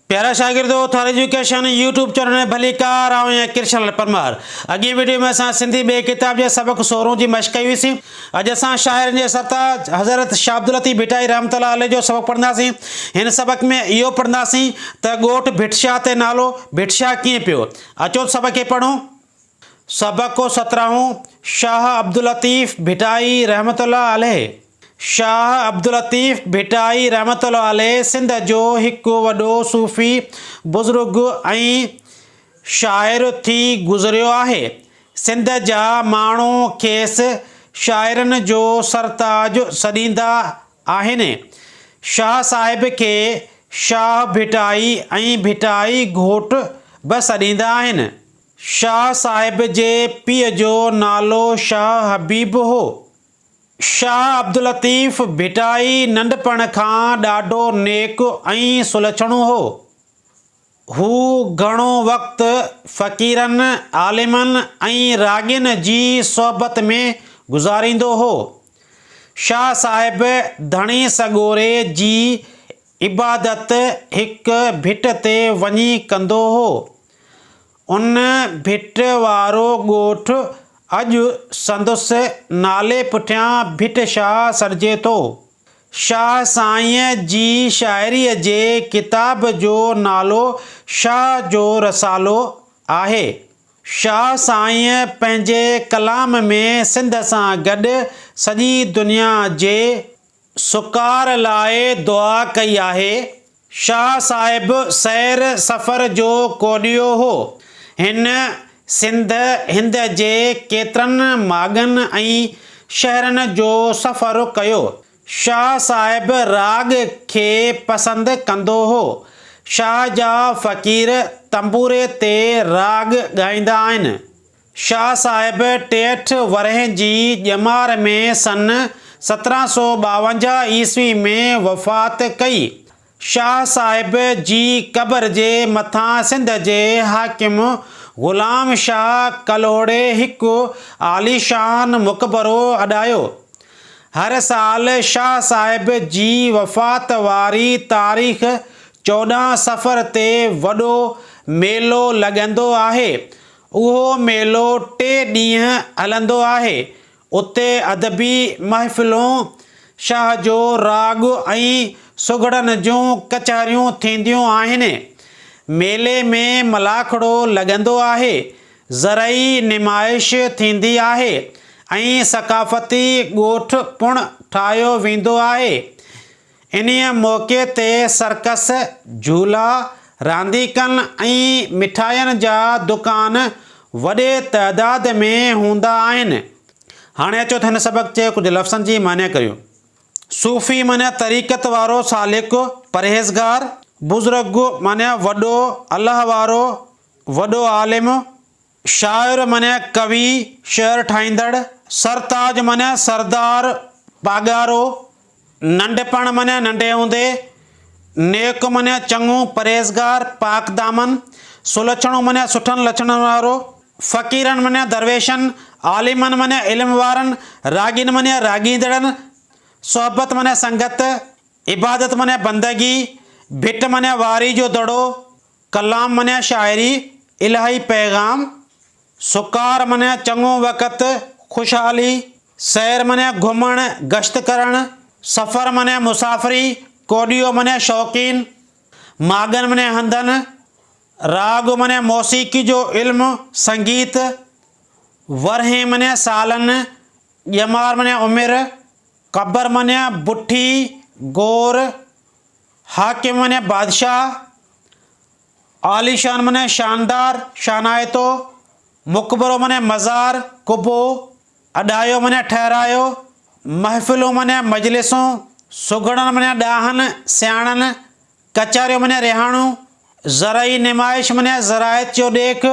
پيارا شاگردو Thar education YouTube channel ۾ ڀلي ڪار آئون آهيان ڪرشن لال پرمار اڳين ويڊيو ۾ اسان سنڌي ٻئي ڪتاب جي سبق سورهون جي مشق ڪئي هئي سين اڄ اسان شاعرن جي سرتاج حضرت شاھ عبداللطيف ڀٽائي رحمة الله عليه جو سبق پڙهنداسين هن سبق ۾ اهو پڙهنداسين ته ڳوٺ ڀٽ شاھ تي نالو ڀٽ شاھ ڪيئن پيو اچو سبق کي پڙهون سبق سترهون شاهه عبداللطيف ڀٽائي رحمة الله عليه شاهه عبداللطيف ڀٽائي رحمة الله عليه سنڌ جو هڪ وڏو صوفي بزرگ ۽ شاعر ٿي گذريو آهي. سنڌ جا ماڻهو کيس شاعرن جو سرتاج سڏيندا آهن. شاهه صاحب کي شاهه ڀٽائي ۽ ڀٽائي گهوٽ به سڏيندا آهن. شاهه صاحب جي پيء جو نالو شاهه حبيب هو. شاهه عبداللطيف ڀٽائي ننڍپڻ کان ڏاڍو نيڪ ۽ سلڇڻو هو. هو گهڻو وقت فقيرن، عالمن ۽ راڳين جي صحبت ۾ گذاريندو هو. شاهه صاحب ڌڻي سڳوري جي عبادت هڪ ڀٽ تي وڃي ڪندو هو. ان ڀٽ وارو ڳوٺ اڄ سندس نالي پٺيان ڀٽ شاهه سڏجي ٿو. شاهه سائينء جي شاعريء جي ڪتاب جو نالو شاهه جو رسالو آهي. شاهه سائينء پنهنجي ڪلام ۾ سنڌ سان گڏ سڄي دنيا جي سڪار لاء دعا ڪئي آهي. شاهه صاحب سير سفر جو ڪوڏيو هو. هن سنڌ هند جي ڪيترن ماڳن ۽ شهرن جو سفر ڪيو. شاهه صاحب راڳ کي پسند ڪندو هو. شاهه جا فقير تنبوري تي راڳ ڳائيندا آهن. شاهه صاحب ٽيهٺ ورهين جي ڄمار ۾ سن سترهن سؤ ٻاونجاهه عيسوي ۾ وفات ڪئي. شاهه صاحب جي قبر جي مٿان سنڌ جي حاڪم غلام شاهه ڪلهوڙي هڪ عاليشان مقبرو اڏايو. هر سال شاهه صاحب جي وفات واري تاريخ چوڏهن صفر تي وڏو ميلو لڳندو آهي. اهو ميلو ٽي ڏينهن هلندو آهي. اتي ادبي محفلون، شاهه جو راڳ ۽ سگهڙن جون ڪچهريون ٿينديون آهن. ميلي ۾ ملاکڙو لڳندو آهي، زرعي نمائش ٿيندي آهي ۽ ثقافتي ڳوٺ پڻ ٺاهيو ويندو آهي. انهيء موقعي تي سرڪس، جهولا، رانديڪن ۽ مٺاين جا دڪان وڏي تعداد ۾ هوندا آهن. هاڻي اچو ته هن سبق جي ڪجهه لفظن جي معني ڪريون. صوفي معني طريقت وارو سالڪ، پرهيزگار. بزرگ معني وڏو، الله وارو، وڏو عالم. شاعر معنيٰ ڪوي، شعر ٺاهيندڙ. سرتاج معنيٰ سردار، پاڳارو. ننڍپڻ معنيٰ ننڍي هوندي. نيڪ معنيٰ چڱو، پرهيزگار، پاڪدامن. سلڇڻو معنيٰ سٺن لڇڻن وارو. فقيرن معنيٰ درويشن. عالمن معنيٰ علم وارن. راڳين معنيٰ راڳيندڙن. صحبت معنيٰ سنگت. عبادت معنيٰ بندگي. ڀٽ معنيٰ واري جو دڙو. ڪلام معنيٰ شاعري، الاهي پيغام، سڪار معنيٰ چڱو وقت، خوشحالي، سير معنيٰ گهمڻ، گشت ڪرڻ، سفر معنيٰ مسافري، ڪوڏيو معنيٰ شوقين، ماڳن معنيٰ هنڌن، راڳ معنيٰ موسيقي جو علم، سنگيت، ورهين معنيٰ سالن، ڄمار معنيٰ عمر، قبر معنيٰ بٺي، گور، حاڪم معنيٰ بادشاهه، عاليشان معنيٰ شاندار، شانائتو، مقبرو معنيٰ مزار، قبو، اڏايو معنيٰ ٺهرايو، محفلون معنيٰ مجلسون، سگهڙن معنيٰ ڏاهن، سياڻن، ڪچهريون معنيٰ رهاڻون، زرعي نمائش معنيٰ زراعت جو ڏيک،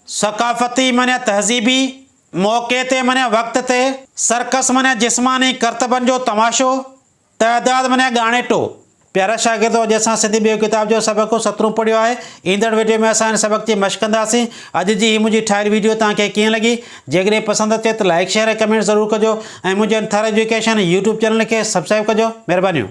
ثقافتي معنيٰ تهذيبي، موقعي تي معنيٰ وقت تي، سرڪس معنيٰ جسماني ڪرتبن جو تماشو، تعداد منيا ڳاڻيٽو پيارا شاگردو اڄ اسان سنڌي ٻيو ڪتاب جو سبق سترون پڙهيو آهي ايندڙ ويڊيو ۾ اسان هن سبق جي مشق ڪنداسين اڄ جي هي منهنجي ٺاهيل ويڊيو توهان کي ڪيئن لڳي جيڪڏهن پسند اچي ته لائڪ شيئر ۽ ڪمينٽ ضرور ڪجو ۽ منهنجي انٿر ايجوڪيشن يوٽيوب چينل کي سبسڪرائب ڪجو مهربانيون